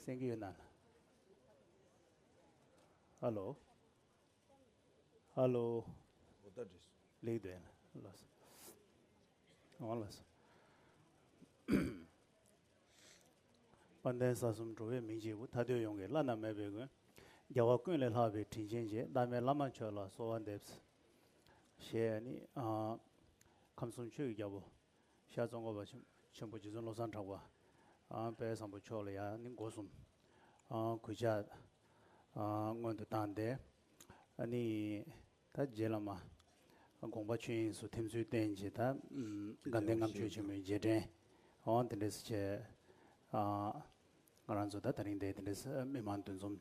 སེང་གེ་ཡོད་ན། ཧ་ལོ། ཧ་ལོ། ལེགས་འདོད་ཡིན་ལ་ལོ་སོ། འོང་ལ་སོ། དཔལ་ལྡན་ས་གསུམ་འགྲོ་བའི་མི་འཇིགས་སྐུ་ཐ་དད་ཡོངས་ཀྱི་བླ་ན་མེད་པའི་མགོན། རྒྱལ་བ་ཀུན་ལས་ལྷག་པའི་དྲིན་ཆེན་རྗེ་བླ་མའི་བླ་མ་མཆོག་ལ་གསོལ་བ་འདེབས། ཞེས་ནི། ཁམས་གསུམ་ཆོས་ཀྱི་རྒྱལ་པོ། ཤར་རྫོང་སྒོ་བ་ཆེན་པོ་རྗེ་བཙུན་བློ་བཟང་གྲགས་པ་དཔལ་བཟང་པོ་མཆོག་ལ་ཡང་ནི་སྒོ་གསུམ་གུས་ཕྱག་སྔོན་དུ་བཏང་སྟེ། ནི་ད་རྗེ་བླ་མ་དགོངས་པ་ཆོས་དབྱིངས་སུ་ཐིམ་ཚུལ་བསྟན་ཅིང་ད་དགའ་ལྡན་ལྔ་མཆོད་ཆེན་མོའི་རྗེས་དྲན་འོང་དེ་འདྲས་སུ་བྱས། ང་རང་ཚོ་ད་ད་རིང་འདས་དེ་འདྲས་སུ་མི་མང་འདུ་འཛོམས་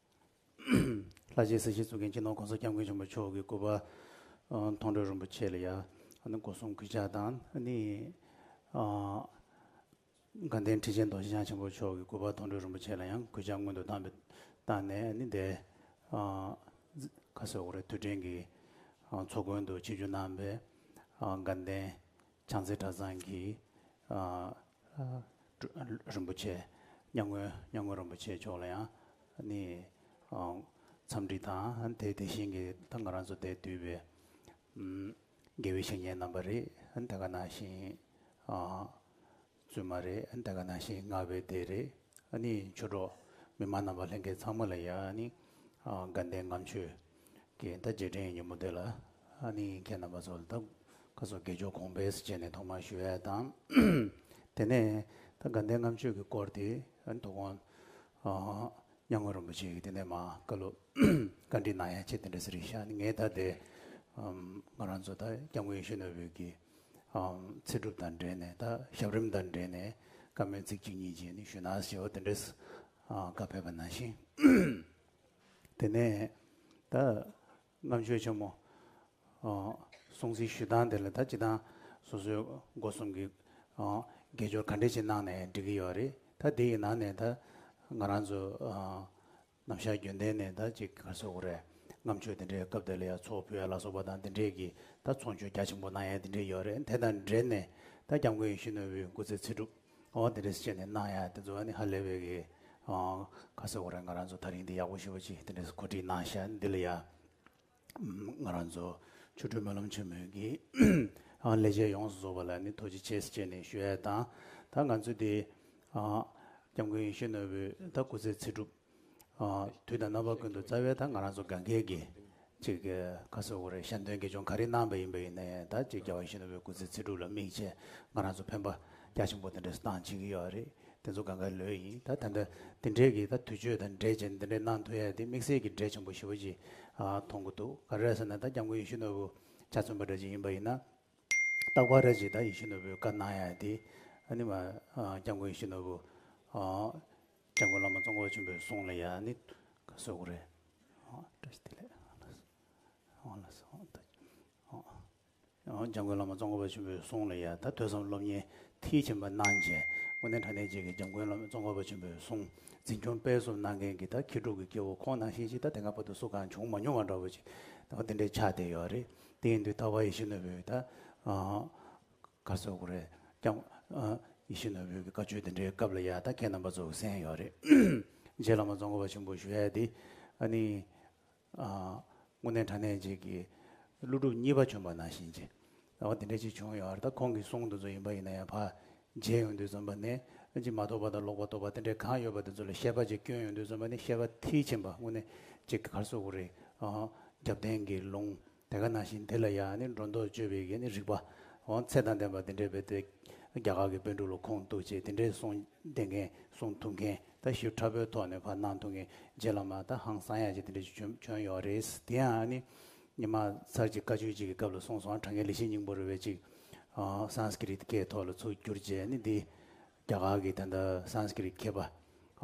ལྷ་རྗེའི་སྲས་ཤེས་གཙུག་གིང་ཁྱི་ནོར་གོང་ས་སྐྱབས་མགོན་ཆེན་པོ་མཆོག་གི་སྐུ་པར་མཐོང་གྲོལ་རིན་པོ་ཆེ་ལ་ཡང་སྒོ་སྲུང་གུས་ཕྱག་དང་ནི། དགའ་ལྡན་ཁྲི་ཆེན་རྡོ་རྗེ་འཆང་ཆེན་པོ་མཆོག་གི་སྐུ་པར་མཐོང་གྲོལ་རིན་པོ་ཆེ་ལ་ཡང་གུས་ཕྱག་སྔོན་དུ་བཏང་བཏང་ནས་ནི་བསྡད། ཁ་སེར་འོག་རེ་ཐུགས་འཕྲེང་གི་ཚོགས་མགོན་དུ་ཆེ་རྒྱུན་གནང་བས་དགའ་ལྡན་བྱང་རྩེ་གྲྭ་ཚང་གིས། རིན་པོ་ཆེ། གཉའ་སྔོན་གཉའ་སྔོན་རིན་པོ་ཆེ་མཆོག་ལ་ཡང་ནི། འཚམས་འདྲི་དང་དེ་དེ་བཞིན་གྱི་ད་ང་རང་ཚོ་འདས་དུས་པའི། དགེ་བའི་བཤེས་གཉེན་རྣམ་པ་རེད་དེ་ག་ནང་བཞིན། བཙུན་མ་རེད་དེ་ག་ནང་བཞིན་སྔགས་པའི་སྡེ་རེད་ནི། ཆོས་གྲོགས་མི་མང་རྣམ་པ་ལྷན་རྒྱས་ཚང་མ་ལ་ཡང་ནི། དགའ་ལྡན་ངམ་ཆོས། ཀྱི་ཟླ་རྗེས་དྲན་ཡི་ཉིན་མོ་དེ་ལ་ཨ་ནེ་ཡིས་ཁྱེད་རྣམ་པ་ཚོ་ལ་ད་ག་ཟོ་དགེ་ཆོས་གོང་འཕེལ་སེ་བྱས་ནས་ཐོག་མར་ཞུ་ཡས་དང། དེ་ནས་ད་དགའ་ལྡན་ངམ་ཆོས་ཀྱི་སྐོར་དེ་འདུག་གོང་གཉའ་ངོས་རིན་པོ་ཆེ་གིས་དེ་ནས་མ་བཀའ་ལུ་བཀའ་འདྲི་གནང་ཡས་ཆེ་དེ་འདྲ་ཟེར་གྱི་ཤག་ངས་ད་དེ་ང་རང་ཚོ་ད་སྐྱབས་མགོན་ཡེ་ཤུ་ནོ་བེལ་གྱི་ཚེ་སྒྲུབ་དང་འབྲེལ་ནས་ད་ཞབས་རིམ་དང་འབྲེལ་ནས་བཀའ་མོལ་ཚིག་གཅིག་གཉིས་བྱས་ནས་ཞུ་ན་ཞེས་བ་དེ་འདྲས་བཀའ་ཕེབས་པ་ནང་བཞིན། དེ་ནས་ད་རྣམ་དཔྱོད་ཆེན་མོ། སྲོང་བཙན་ཞུས་སྟངས་དེ་ལ་ད་ཅི་སྟངས་སོ་སོའི་སྒོ་གསུམ་གྱི་དགེ་སྦྱོར་ག་འདྲས་ཅིག་གནང་ནས་འགྲིག་གི་ཡོད་རེད་ད་དེ་ཡི་ནང་ནས་ད་ང་རང་ཚོ་ནམ་ཞར་རྒྱུན་ལྡན་ནས་ད་ཅིག་ག་ཚོད་ཀྱི་རེད་རྣམ་དཔྱོད་དེ་འདྲས་སྐབས་དེ་ལ་ཡང་ཚོགས་ཕུད་ཡ་ལ་སོགས་པ་དང་དེ་འདྲས་ཀྱི་ད་ཚོགས་མཆོད་རྒྱ་ཆེན་པོ་གནང་ཡ་དེ་འདྲས་ཡོད་རེད་དེ་དང་འབྲེལ་ནས་ད་སྐྱབས་མགོན་ཡེ་ཤེས་ནོར་བུའི་སྐུ་ཚེ་ཚེ་སྒྲུབ། ཨོ་དེ་རེས་བྱས་ནས་གནང་ཡ་དེ་ཚོ་ནི་ཧ་ལས་པའི་གི། ཁ་སང་ཨོ་རེད་ང་རང་ཚོ་ད་རིང་འདི་ཡག་པོ་ཞུ་བ་ཅིག་དེ་འདྲས་གོ་སྒྲིག་གནང་ཤག་འདི་ལ་ཡ། ང་རང་ཚོ་ཆོ་འཕྲུལ་སྨོན་ལམ་ཆེན་མོའི་གི། ལས་བྱེད་ཡོངས་སུ་རྫོགས་པ་ལ་ནི་ཐུགས་རྗེ་ཆེ་བྱས་ནས་ཞུ་ཡ་དང། ད་ང་ཚོ་འདི། སྐྱབས་མགོན་ཡེ་ཤེས་ནོར་བུས་ད་སྐུ་ཚེ་ཚེ་སྒྲུབ། དུས་དང་རྣམ་པ་ཀུན་ཏུ་རྩ་བའི་ད་ང་རང་ཚོ་གངས་སྐྱེས་ཀྱི། ཅིག་ཁ་སོ་བོར་ཤ་འདོན་དགེ་སྦྱོང་ག་རེ་གནང་བས་ཡིན་པ་ཡིན་ནའི་ད་ཅིག་རྒྱ་བ་གཞོན་ནུ་བའི་སྐུ་ཚེ་ཚེ་སྒྲུབ་ལ་དམིགས་བྱས་ང་རང་ཚོ་ཕན་པ་རྒྱ་ཆེན་པོ་དེ་འདྲས་སུ་བཏང་བྱེད་ཀྱི་ཡོད་རེད་དེ་ཚོ་ག་འགའི་ལོས་ཡིན་ད་ད་འདྲ་དེ་འདྲས་ཀྱི་ད་དུས་ཆོས་དང་འབྲེལ་བྱས་ནས་དེ་འདྲས་གནང་ཐུབ་ཡས་དེ་དམིགས་བསལ་གྱི་འབྲས་ཆེན་པོ་ཞི་བ་ཅིག་མཐོང་གི་འདུག་ག་རེ་ཟེར་ན་ད་སྐྱབས་མགོན་ཡེ་ཤུ་ནོར་བུ་ཆ་མཚོན་པ་འདྲ་ཅིག་ཡིན་པ་ཡིན་ན། རྟག་པར་རེ་ཅིག་ད་ཡེ་ཤུ་ནོར་བུའི་བཀའ་གནང་ཡས་དེ་ཨ་ནི་མ་སྐྱབས་མགོན་ཡེ་ཤུ་ནོར་བུ། སྤྱང་མགོ་བླ་མ་གཙོ་འཁོར་ཆེན་པོའི་གསུང་ལ་ཡང་ནི་གསོལ་བ་རེ། སྤྱང་མགོ་བླ་མ་གཙོ་འཁོར་པ་ཆེན་པོའི་གསུང་ལ་ཡང་ད་ཐོས་བསམ་སློབ་གཉེར་མཐིལ་ཕྱིན་པ་གནང། རྗེ་དགོན་གནས་གྲྭ་གནས་བཅས་ཀྱི་སྤྱང་མགོན་བླ་མ་གཙོ་འཁོར་པ་ཆེན་པོའི་གསུང་འཛིན་སྐྱོང་སྤེལ་གསུམ་གནང་མཁན་གྱི་ད་ཁྱི་ཕྲུག་གི་སྐྱེ་བོ་ཁོང་ནང་བཞིན་ཞིག་ད་དེ་སྔ་བོད་དུ་སུ་གང་བྱུང་མ་མྱོང་བ་འདྲ་བོ་ཅིག་ད་འདི་འདྲའི་ཆ་དེ་ཡོད་རེད་དེ་ཡིན་དུས་ད་བ་ཡེ་ཤེས་ནོར་བུས་ད། ཁ་སོག་གོ་རེད་ཀྱང། ཡེ་ཤུ་ནོར་བུའི་བཀའ་ཆོས་དེ་འདྲའི་སྐབས་ལ་ཡག་ད་ཁྱེད་རྣམ་པ་ཚོ་གསན་ཡོད་རེད། རྗེ་བླ་མ་རྫོང་གོ་བ་ཆེན་པོ་ཞུ་ཡས་འདི་ཨ་ནི། དངོས་གནས་དྲ་གནས་ཅིག་གི་ཀླུ་སྒྲུབ་གཉིས་པ་བྱོན་པ་ན་བཞིན་ཅི་ཨ་དེ་འདྲ་ཅིག་བྱུང་ཡོད་རེད་ད་ཁོང་གི་གསུང་དེ་ཚོ་ཡིན་པ་ཡིན་ན་ཡང་བ། རྗེས་ཡོང་དུས་བརྩོན་པ་ནི་ཅི་མ་རྟོགས་པ་དང་ལོག་པ་རྟོགས་པ་དེ་འདྲའི་གང་ཡོད་པ་དེ་ཚོ་ལ་ཤེས་པ་ཅིག་སྐྱོན་ཡོང་དུས་བརྩོན་པ་ནི་ཤེས་པ་མཐིལ་ཕྱིན་པ་དངོས་གནས་ཅིག་གི་ཁར་སོག་གོ་རེད། རྒྱབ་རྟེན་གྱི་ལུང། དེ་ག་ན་བཞིན་དེ་ལ་ཡང་ནི་སྒྲོ་འདོགས་གཅོད་པའི་གན་ནི་རིགས་པ། འོང་ཚད་དང་ལྡན་པ་འདི་འདྲའི་བེད་སྟོད། རྒྱ་གར་གྱི་དཔོན་དྲུག་ལ་ཁོངས་གཏུགས་ཅེས་དེ་འདྲའི་གསུང་བསྟན་མཁན་གསུང་ཐུབ་མཁན་ད་ཞིབ་ཕྲ་པོའི་ཐོག་ནས་བར་སྣང་ཐུང་གི་རྗེ་བླ་མ་ད་ཧང་སང་ཡ་ཅེས་དེ་འདྲའི་ཆུ་བྱོན་བྱོན་ཡོད་རེད། དེ་ཡང་ནི་ཉི་མ་ཚར་གཅིག་བཀའ་ཆོས་གཅིག་གི་སྐབས་ལ་གསུངས་སོང་གྲངས་ཀའི་ལི་ཤིའི་སྙིང་པོ་རུ་བའི་ཅིག། Sanskrit སྐད་ཐོག་ལ་ཚུགས་བསྒྱུར་རྗེས་ནི་འདི། རྒྱ་གར་གྱི་དེ་ད Sanskrit མཁས་པ།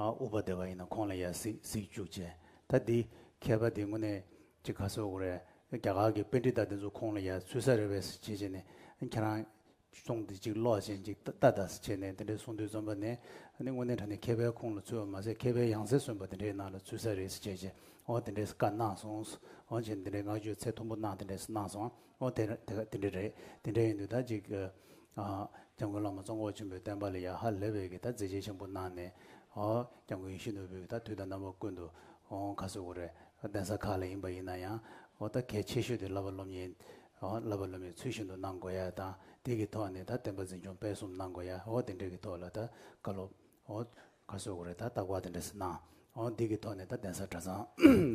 ཨུ་པ་དེ་བ་ཡིན་ན་ཁོང་ལ་ཡ་གཟིགས་གཟིགས་བཅུག་ཅེས་ད་འདི། མཁས་པ་འདི་དངོས་གནས་ཅིག་ག་སོགས་རེད། རྒྱ་གར་གྱི་དཔེ་འབྲི་བརྡ་དེ་ཚོ་ཁོང་ལ་ཡ་ཚུལ་ས་རེད་བས་སུ་བྱེད་བྱེད་ནས་ཁྱེད་རང། གསུང་འདི་ཅིག་ཀློག་བྱེད་ཅིག་ལྟ་ལྟ་ས་བྱེད་ནས་དེ་འདྲའི་གསུང་འདི་རྩོམ་པ་ནི། འདི་དངོས་གནས་དྲ་ནས་མཁས་པའི་ཁོང་ལ་ཚུལ་བ་མ་ཟད་མཁས་པའི་ཡང་རྩེ་གསོན་པ་དེ་འདྲའི་ནང་ལ་ཚུལ་ས་རེད་ས་བྱེད་བྱེད་འོ་དེ་འདྲའི་ས་བཀའ་གནང་སོང་ཨོ་བྱེད་ནས་དེ་འདྲའི་ངག་བརྗོད་ཚད་མཐོན་པོ་གནང་དེ་འདྲའི་ས་གནང་སོང་ཨོ། དེ་འདྲ་རེད། དེ་འདྲ་ཡིན་དུས་ད་ཅིག་སྐྱབས་མགོན་བླ་མ་གཙོ་འཁོར་ཆེན་པོའི་བསྟན་པ་ལ་ཡ་ཧ་ལེ་བས་ཀྱི་ད་མཛད་རྗེས་ཆེན་པོ་གནང་ནས། སྐྱབས་མགོན་ཡེ་ཤུ་ནོར་བུས་ཀྱི་ད་དུས་ད་རྣམ་པ་ཀུན་ཏུ་འོང་ཁ་སོ་གོ་རེ་གདན་ས་ཁག་ལ་ཡིན་པ་ཡིན་ན་ཡང། ཨོ་ད་གལ་ཆེ་ཤོས་དེ་བསླབ་པ་སློབ་གཉེར། བསླབ་པ་སློབ་མའི་ཚུལ་བཞིན་དུ་གནང་དགོས་ཡ་དང་དེ་གི་ཐོག་ནས་ད་བསྟན་པ་འཛིན་སྐྱོང་སྤེལ་གསུམ་གནང་དགོས་ཡ་ཨོ་དེ་འདྲའི་གི་ཐོག་ལ་ད་བཀའ་སློབ། ཨོ། ཁ་སོས་གོ་རེ་ད་རྟགས་བ་དེ་འདྲས་སུ་སྣང། ཨོ་འདི་གི་ཐོག་ནས་ད་གདན་ས་གྲྭ་ཚང་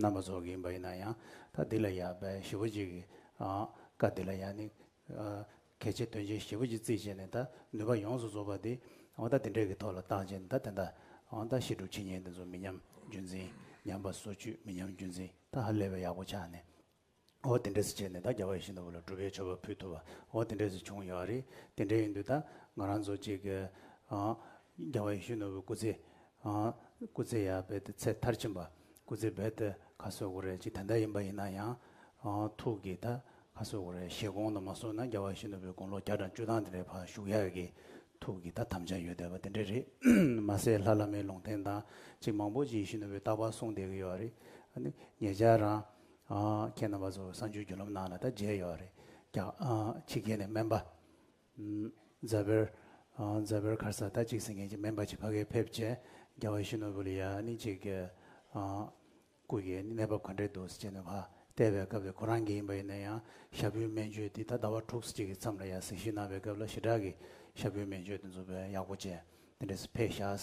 རྣམ་པ་ཚོགས་ཀྱི་ཡིན་པ་ཡིན་ན་ཡང་ད་འདི་ལ་ཡ་བས་ཞི་བོ་གཅིག་གི། ཀ་འདི་ལ་ཡ་ནི། གལ་ཆེ་དོན་ཆེ་ཞི་བོ་གཅིག་རྩིས་བྱས་ནས་ད་ནུས་པ་ཡོངས་སུ་རྫོགས་པ་འདི། ཨོ་ད་འདི་འདྲས་ཀྱི་ཐོག་ལ་བརྟག་བྱས་ནས་ད་དེ་འདྲ། ཨོ་ད་ཤི་འགྲོ་འཆི་ཉེན་འདི་ཚོ་མི་ཉམས་རྒྱུན་འཛིན། ཉམས་པ་སོ་བཅུད་མི་ཉམས་རྒྱུན་འཛིན་ད་ཧ་ལས་པའི་ཡག་པོ་ཆགས་ནས། འོ་དེ་འདྲས་སུ་བྱས་ནས་ད་རྒྱ་བ་ཡི་ཤིང་རྟ་བོ་ལ་སྒྲུབ་པའི་ཆོ་ག་ཕུལ་ཐུབ་བ་འོ་དེ་འདྲས་སུ་བྱུང་ཡོད་རེད་དེ་འདྲས་ཡིན་དུས་ད་ང་རང་ཚོ་གཅིག་གི། རྒྱ་བ་ཡི་ཤུལ་ནོར་བུ་སྐུ་ཚེ། སྐུ་ཚེ་ཡར་འབད་དེ་ཚེ་མཐར་ཕྱིན་པ། སྐུ་ཚེ་འབད་དེ་ཁ་གསོས་དགོས་རེད་ཅིག་དེ་འདྲ་ཡིན་པ་ཡིན་ན་ཡང། ཐུགས་ཀྱིས་ད་ཁ་གསོས་དགོས་རེད་ཞེས་དགོངས་ན་མ་སོང་ན་རྒྱ་བ་ཡི་ཤིང་ནོར་བུའི་དགུང་ལོ་བརྒྱ་དང་བཅུ་ཐང་དེ་འདྲའི་བར་བཞུགས་ཡག་གི། ཐུགས་ཀྱིས་ད་དམ་བཅའ་ཡོད་བསྡད་པ་དེ་འདྲས་རེད། མ་ཟད་ལྷ་བླ་མའི་ལུང་བསྟན་དང་ཅིག་མང་པོ་ཅིག་ཡི་ཤིང་ནོར་བུའི་རྟགས་པར་གསུངས་བསྡད་ཀྱི་ཡོད་རེད། ངེད་ཅག་རང། ཁྱེད་རྣམ་པ་ཚོ་བསང་ཆུའི་རྒྱུ་ལམ་ནང་ལ་ད་མཇལ་ཡོད་རེད་རྒྱག། ཕྱི་རྒྱལ་ནས་སྨན་པ། རྫ་བེར། རྫ་བེར་མཁར་ས་ད་གཅིག་ཟིན་མཁན་གྱི་སྨན་པ་གཅིག་ཕ་གིར་ཕེབས་རྗེས་རྒྱ་བ་ཤི་ནོ་བུ་ལི་ཡ་ནི་གཅིག་གི། སྐུ་གི་གནས་བབ་ག་འདྲས་འདུག་ཟེར་ནས་བ་བལྟས་པའི་སྐབས་དེ་ཁོ་རང་གི་ཡིན་པ་ཡིན་ན་ཡང་ཞྭ་བུའི་སྨན་བཅོས་འདི་ད་ཟླ་བ་དྲུག་གཅིག་གི་མཚམས་ལ་ཡང་གཟིགས་ཞིབ་གནང་བའི་སྐབས་ལ་ཞི་དྲག་གིས་ཞྭ་བུའི་སྨན་བཅོས་འདི་འཛུགས་པའི་ཡག་པོ་ཅན་འདི་འདྲས་སུ་ཕེབས་ཤགས།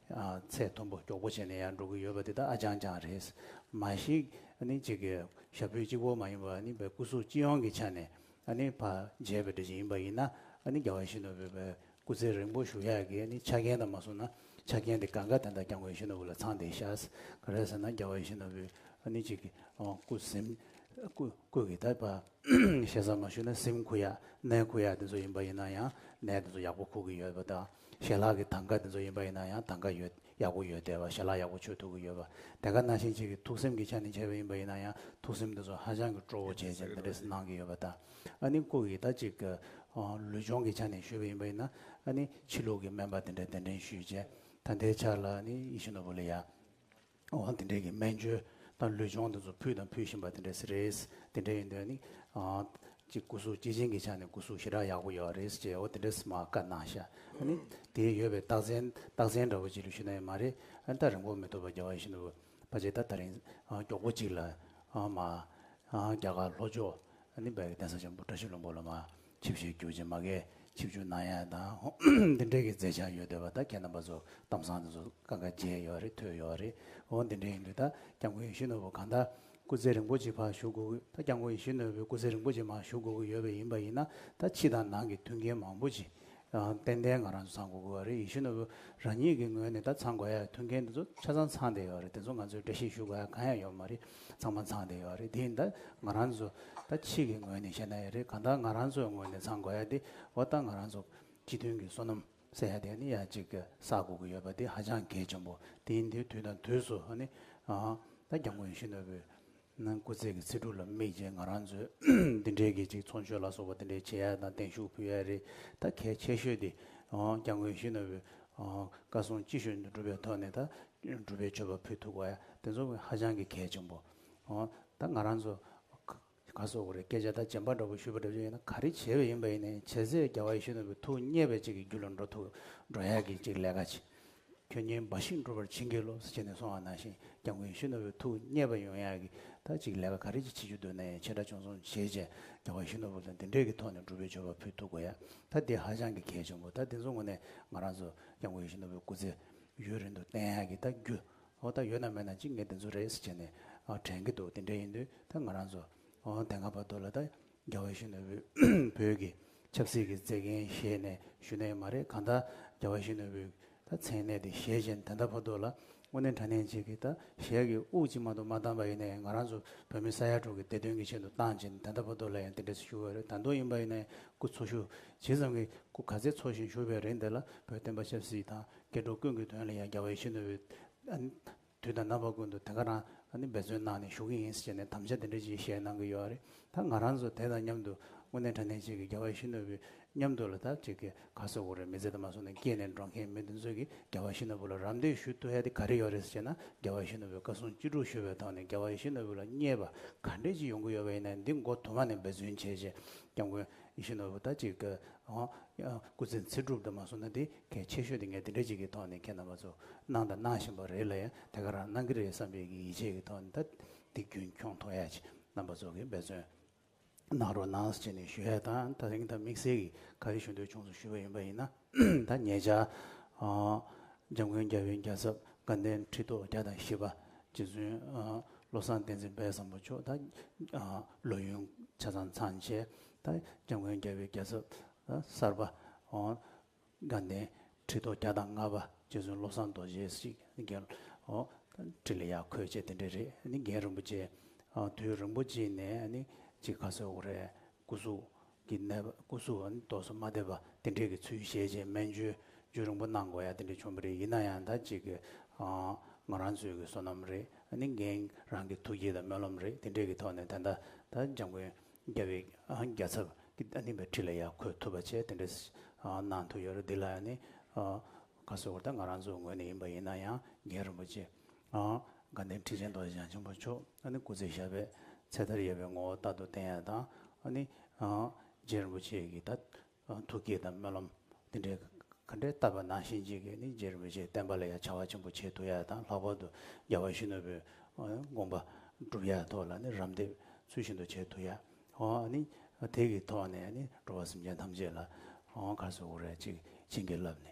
ཚད་མཐོན་པོ་མགྱོགས་པོ་བྱས་ནས་ཡར་འགྲོ་གི་ཡོད་པ་དེ་དག་ཨ་ཅང་ཅང་རེད། མ་གཞིག་ནི་གཅིག་གི་ཞབས་བྲོའི་གཅིག་བོ་མ་ཡིན་པར་ནི་བའི་སྐུ་གཟུགས་སྤྱི་ཡོངས་ཀྱི་ཆ་ནས་ནི་བ་མཇལ་བའི་འགྲེལ་བྱེད་ཡིན་པ་ཡིན་ན་ནི་རྒྱ་བ་ཤིན་ནོ་བོད་པའི་སྐུ་ཚེ་རིང་པོ་བཞུགས་ཡག་གི་ནི་ཆ་རྐྱེན་དག་མ་བཟུང་ན་ཆ་རྐྱེན་དེ་ག་འགའ་དེ་དག་ཀྱང་བའི་ཤིན་ནོ་བོ་ལ་ཚང་སྟེ་ཤཱས་ག་རེད་ཟེར་ན་རྒྱ་བ་ཤིན་ནོ་བོས་ནི་གཅིག་གི་སྐུ་སེམས་སྐུ་གི་དད་པ་ཤེས་ས་མ་ཞུ་ན་སེམས་ཁུ་ཡག་གནས་ཁུ་ཡག་དེ་ཚོ་ཡིན་པ་ཡིན་ན་ཡང་གནས་དེ་ཚོ་ཡག་པོ་ཁུག་གི་ཡོད་པ་དང། ཞལ་ལག་གི་ཐང་ག་དེ་ཚོ་ཡིན་པ་ཡིན་ན་ཡང་ཐང་ག་ཡོད་ཡག་པོ་ཡོད་བསྡད་པ་ཞལ་ལག་ཡག་པོ་ཆོད་ཐུབ་ཀྱི་ཡོད་པ་དེ་ག་ན་ཤིང་གཅིག་གི་ཐུགས་སེམས་ཀྱི་ཆ་ནས་འཆད་པ་ཡིན་པ་ཡིན་ན་ཡང་ཐུགས་སེམས་དེ་ཚོ་ཧ་ཅང་གི་སྤྲོ་བོ་བྱེད་ཅིང་འདི་འདྲས་སུ་གནང་གི་ཡོད་པ་དང་ཨ་ནི་སྐུ་ཡི་ད་ཅིག་ལུས་སྦྱོང་གི་ཆ་ནས་ཞུས་པ་ཡིན་པ་ཡིན་ན་ཨ་ནི་ཕྱི་ལུགས་ཀྱི་སྨན་པ་དེ་འདྲས་གདན་འདྲེན་ཞུས་རྗེས་ད་ལྟའི་ཆར་ལ་ཨ་ནི་ཡེ་ཤུ་ནོ་བོ་ལི་ཡ། འོང་དེ་འདྲས་ཀྱི་སྨན་བཅོས་དང་ལུས་སྦྱོང་དེ་ཚོ་ཕུལ་དང་ཕུལ་བཞིན་པ་དེ་འདྲས་རེད། དེ་འདྲས་ཡིན་དོན་ནི། གཅིག་སྐུ་གཟུགས་སྐྱེས་ཆེན་གྱི་ཆ་ནས་སྐུ་གཟུགས་ཞེ་དྲག་ཡག་པོ་ཡོད་བ་རེད་ཅེས་འོ་དེ་འདྲས་སྨྲ་བཀའ་གནང་ཤག་ཨནི། དེའི་ཡོད་པའི་རྟགས་མཚན་རྟགས་མཚན་འདྲ་བོ་ཅིག་ལ་ཞུ་ན་ཡོད་མ་རེད་ཨན་ད་རིང་པོ་མི་ཐུབ་པ་རྒྱ་བ་བཞིན་དུ་བ་ཅེས་ད་ད་རིང་མགྱོགས་པོ་ཅིག་ལ་མ་རྒྱ་གར་ལྷོ་ཕྱོགས་ནི་བལ་གྱི་གདན་ས་ཆེན་པོ་བཀྲ་ཤིས་ལུང་པོ་ལ་མ་ཆིབས་བཞེས་རྒྱུ་ཅན་མ་གས་ཆིབས་ཆུ་ནང་ཡང་དང་འདི་འདྲའི་གི་མཛད་བྱང་ཡོད་འདོད་པ་ད་ཁྱེད་རྣམ་པ་ཚོ་གཏམ་བཟང་དེ་ཚོ་ཀ་ཀ་མཇལ་ཡོད་རེད་ཐོས་ཡོད་རེད་འོ་འདི་འདྲའི་ཡིན་དུས་ད་སྐྱབས་མགོན་ཡེ་ཤུ་ནོར་བུ་གང་ད་སྐུ་ཚེ་རིང་པོ་ཅིག་ཕར་བཞུགས་དགོས་ཀྱི་ད་སྐྱབས་མགོན་ཡེ་ཤུ་ནོར་བུའི་སྐུ་ཚེ་རིང་པོ་ཅིག་མ་བཞུགས་དགོས་ཀྱི་ཡོད་པ་ཡིན་པ་ཡིན་ན་ད་ཕྱི་དང་ནང་གི་མཐུན་རྐྱེན་མང་པོ་ཅིག་ཏན་ཏན་ང་རང་ཚོ་ཚང་དགོས་ཀྱི་ཡོད་རེད་ཡེ་ཤུ་ནོར་བུ་རང་ཉིད་ཀྱི་ངོས་ནས་ད་ཚང་དགོས་ཡ་མཐུན་རྐྱེན་དེ་ཚོ་ཆ་ཚང་ཚང་བསྡད་ཡོད་རེད་དེ་ཚོ་ང་ཚོས་བཀྲ་ཤིས་ཞུ་དགོས་ཡ་གང་ཡང་ཡོད་མ་རེད། ཚང་མ་ཚང་དེ་ཡོད་རེད་དེ་ད་ང་རང་ཚོ་ད་ཕྱིས་ཀྱི་ངོས་ནས་བཤད་ན་ཡག་རེད་གང་ལྟར་ང་རང་ཚོའི་ངོས་ནས་ཚང་དགོས་ཡག་དེ་བ་ད་ང་རང་ཚོ་སྤྱི་མཐུན་གྱི་བསོད་ནམས་བསད་ཡག་དེ་ནི་ཡག་གཅིག་གི་ས་དགོས་ཀྱི་ཡོད་པ་དེ་ཧ་ཅང་གལ་ཆེན་པོ་དེ་ཡིན་དུས་དུས་དང་དུས་སུ་ནི་ད་རྒྱ་དངོས་གཞོན་ནུ་བོའི་སྐུ་ཚེགས་ཀྱི་ཚིག་འབྲུ་ལ་དམིགས་རྗེས་ང་རང་ཚོས་འདི་འདྲའི་གི་ཅིག་ཚོགས་མཆོད་ལ་སོགས་པ་འདི་འདྲའི་བྱེད་ཡག་དང་གདན་ཞུ་ཕུལ་ཡག་རེད་ད་གལ་ཆེ་ཤོས་དེ་རྒྱ་དངོས་གཞོན་ནུ་བོའི་བཀའ་གསུང་ཅི་ཤོས་འདུག་གྲུབ་པའི་ཐོག་ནས་ད་སྒྲུབ་པའི་སྤྱོད་པ་ཕུད་ཐུག་པ་ཡ་དེ་ཚོ་ཧ་ཅང་གི་གལ་ཆེན་པོ། ད་ང་རང་ཚོ་ག་སོག་གོ་རེ་སྐད་ཆ་ད་བྱན་པ་འདྲ་པོ་ཞུས་པ་འདྲ་བྱས་ཡོད་ན་ག་རེ་བྱས་པ་ཡིན་པ་ཡིན་ནའི་བྱས་ཚད་རྒྱ་བ་ཡེ་ཤུ་ནོར་བུའི་ཐུགས་མཉེས་པའི་གཅིག་གི་རྒྱུ་ལ་འགྲོ་ཐུག་འགྲོ་ཡག་གི་གཅིག་ལས་ཀ་བྱེད་ཁྱོད་གཉིས་འབའ་ཞིག་འགྲོ་བར་བྱིན་གྱིས་རློབས་ཟེར་བྱས་ནས་སོང་བ་ནང་བཞིན་རྒྱ་མགོན་ཡེ་ཤུ་ནོར་བུའི་ཐུགས་མཉེས་པ་ཡོང་ཡག་གི་ད་གཅིག་ལས་ཀ་ག་རེ་གཅིག་བྱེད་རྒྱུ་འདོད་ནའི་ཆེ་དྲག་ཆུང་གསུམ་བྱས་བྱས་རྒྱ་བ་ཡེ་ཤུ་ནོར་བུ་ལ་འདི་འདྲས་ཀྱི་ཐོག་ནས་སྒྲུབ་པའི་སྤྱོད་པ་ཕུད་ཐུག་པ་ཡ་ད་འདི་ཧ་ཅང་གི་གལ་ཆེན་པོ་ད་འདི་ཚོ་ངོ་ནས་ང་རང་ཚོ་རྒྱ་མགོན་ཡེ་ཤུ་ནོར་བུའི་སྐུ་ཚེ་ཡུན་རིང་དུ་བསྟེན་ཡག་གི་ད་རྒྱུ་ཨོ་ད་ཡོད་ན་མེད་ན་ཅིག་ངས་དེ་ཚོ་རེས་བྱས་ནས་དྲན་གི་འདུག་དེ་འདྲ་ཡིན་དུས་ད་ང་རང་ཚོ་དེ་སྔ་བར་དུ་ལ་ད་རྒྱ་བོད་གཞོན་ནུ་བོད་ཀྱི་ཆབ་སྲིད་ཀྱི་རྩེ་རྒན་ཞེས་ནས་ཞུ་ནས་མ་རེད་གང་ད་རྒྱ་བོད་གཞོན་ནུ་བོད་ད་མཚན་གནས་དེ་ཞེས་བྱས་ནས་དེ་འདྲ་བར་དུ་ལ་དངོས་གནས་འདྲ་ནས་ཅིག་གི་ད་ཞལ་གྱི་དབུགས་གཅིག་མ་གཏོགས་མ་བཏང་པ་ཡིན་ནའི་ང་རང་ཚོ་བོད་མི་ས་ཡ་དྲུག་གི་བདེ་དོན་གྱི་ཆེད་དུ་བཏང་བྱས་ནས་དེ་འདྲ་བར་དུ་ལ་ཡང་དེ་འདྲས་ཞུ་བའི་རེད་ད་དུང་ཡིན་པ་ཡིན་ནའི་སྐུ་འཚོ་ཞུ་ཇི་ཙམ་གྱི་སྐུ་ག་ཚད་འཚོ་བཞིན་ཞུ་བའི་རིན་དེ་ལ་བོད་བསྟན་པ་ཆབ་སྲིད་དང། སྐྱེ་འགྲོ་ཀུན་གྱི་དོན་ལ་ཡང་རྒྱལ་བའི་ཤིན་ཏུ་བའི། དུས་དང་རྣམ་པ་ཀུན་ཏུ་དེ་ག་རང་འདི་འབད་རྩོལ་གནང་ནས་ཞུགས་ཀྱི་ཡིན་ཟེར་ནས་དམ་བཅའ་དེ་འདྲ་ཅིག་བཞེས་གནང་གི་ཡོད་རེད་ད་ང་རང་ཚོ་དེ་དང་མཉམ་དུ་དངོས་གནས་དྲ་གནས་ཅིག་གི་རྒྱལ་བའི་ཤིན་ཏུ་བའི་མཉམ་དུ་ལ་དྭགས་ཅིག་གི་ག་ཚོད་དགོས་རེད་མི་ཚེ་དུ་མ་སོང་ནས་སྐྱེས་ནས་འགྲོ་མཁན་མི་དེ་ཚོས་ཀྱིས་རྒྱལ་བ་ཤིན་ཏུ་བུ་ལ་རམ་འདེགས་ཞུ་ཐུ་ཡ་དེ་ག་རེ་ཡོད་རེད་ཟེར་ན་རྒྱལ་བ་ཤིན་ཏུ་བའི་བཀའ་གསུང་བཅུ་དྲུག་ཞུ་བའི་ཐོག་ནས་རྒྱལ་བ་ཤིན་ཏུ་བུ་ལ་བརྙས་པ་ག་འདྲས་ཅིག་ཡོང་གི་ཡོད་པ་ཡིན་ན་འདི་མགོ་དུ་མ་ནས་འབད་བརྩོན་བྱས་རྗེས་སྐྱབས་མགོན་ཡེ་ཤེས་ནོར་བུ་ད་ཅིག་གི། སྐུ་ཚེ་ཚེ་སྒྲུབ་དུ་མ་སོང་ན་དེ་གལ་ཆེ་ཤོས་དེ་ངས་དེ་འདྲ་ཅིག་གི་ཐོག་ནས་ཁྱེད་རྣམ་པ་ཚོ་གནང་དང་གནང་བཞིན་པ་རེད་ལ་ཡང་དེ་ག་རང་གནང་གི་རེད་བསམ་པའི་གི་ཡིད་ཆེས་ཀྱི་ཐོག་ནས་ད་འདི་རྒྱུན་འཁྱོངས་མཐོང་ཡ་ཅིག་རྣམ་པ་ཚོ་གིས་འབད་བརྩོན་གནང་རོགས་གནང་ཅེས་ནས་ཞུ་ཡ་དང་ད་རིང་ད་དམིགས་བསལ་གིས་ག་རེ་ཞུ་འདོད་བྱུང་སོང་ཞུས་པ་ཡིན་པ་ཡིན་ན། ཐ་སྙད་བྱ། འཇམ་མགོན་རྒྱལ་བོའི་རྒྱལ་ཚབ་དགའ་ལྡན་ཁྲི་ཐོག་བརྒྱ་དང་བཞི་པ། རྗེ་བཙུན་བློ་བཟང་བསྟན་འཛིན་དཔལ་བཟང་པོ་མཆོག་དང། ལོ་ཡུན་ཆ་ཚང་ཚང་བཅས་དང། འཇམ་མགོན་རྒྱལ་བོའི་རྒྱལ་ཚབ་གསར་པ། དགའ་ལྡན་ཁྲི་ཐོག་བརྒྱ་དང་ལྔ་པ། རྗེ་བཙུན་བློ་བཟང་རྡོ་རྗེ་སིདྡྷི་རྒྱལ། ཁྲི་ལ་ཡག་ཁོས་བཅས་དེ་འདྲ་རེད། རྒན་རིན་པོ་ཆེ། དུས་རིན་པོ་ཆེ་ནས་ནི། གཅིག་ཁ་སོས་འོ་རེད་སྐུ་གཟུགས། གི་ནད་པ་སྐུ་གཟུགས་འོན་མདོག་སོ་མ་དད་པ་དེ་འདྲས་ཀྱི་ཚུལ་བཞེས་རྗེས་སྨན་བཅོས་བཅོས་རིང་པོ་གནང་དགོས་ཡ་དེ་འདྲས་བྱུང་བ་རེད་ཡིན་ན་ཡང་ད་གཅིག་གི་ང་རང་ཚོའི་གི་སོ་ནམ་རེད་ནི་འགན་རང་གི་ཐུགས་བསྐྱེད་དང་སྨོན་ལམ་རེད་དེ་འདྲས་ཀྱི་ཐོག་ནས་ད་ལྟ་ད་འཇམ་མགོན་རྒྱ་བའི་རྒྱ་ཚབ་ཀྱི་ད་ནིང་པའི་ཁྲི་ལ་ཡ་འཁོད་ཐུབ་པ་བཅས་དེ་འདྲས་གནང་ཐུབ་ཡོད་རེད་འདི་ལ་ཡ་ནི་ཁ་སོ་བར་ད་ང་རང་ཚོའི་ངོས་ནས་ཡིན་པ་ཡིན་ན་ཡང་རྒན་རིན་པོ་ཆེ་དགའ་ལྡན་ཁྲི་ཆེན་རྡོ་རྗེ་འཆང་ཆེན་པོ་མཆོག། ཨ་ནི་སྐུ་ཚེ་ཞབས་པད་ཚེ་མཐར་ཡས་པའི་ངོ་བོ་རྟག་ཏུ་བསྟན་ཡ་དང། ཨ་ནི། རྗེ་རིན་པོ་ཆེ་ཀྱིས་ད། ཐུགས་བསྐྱེད་དང་སྨོན་ལམ། དེ་འདྲའི། ག་འདྲའི་བཏབ་པ་ནང་བཞིན་གཅིག་གིས་ནི་རྗེ་རིན་པོ་ཆེའི་བསྟན་པ་ལ་ཡང་བྱ་བ་ཆེན་པོ་བྱེད་ཐུབ་ཡ་དང་ལྷག་པར་དུ་རྒྱལ་བ་ཞི་གནོད་པོའི། དགོངས་པ། བསྒྲུབ་ཡ་ཐོག་ལ་ནི་རམ་འདེགས་ཚུལ་བཞིན་དུ་བྱེད་ཐུབ་ཡ། ཨ་ནི། དེ་ཀྱི་ཐོག་ནས་ནི་འགྲོ་བ་སེམས་ཅན་ཐམས་ཅད་ལ། གར་སོགས་དབུ་རལ་གཅིག་བྱིན་གྱིས་བརླབས་ནས།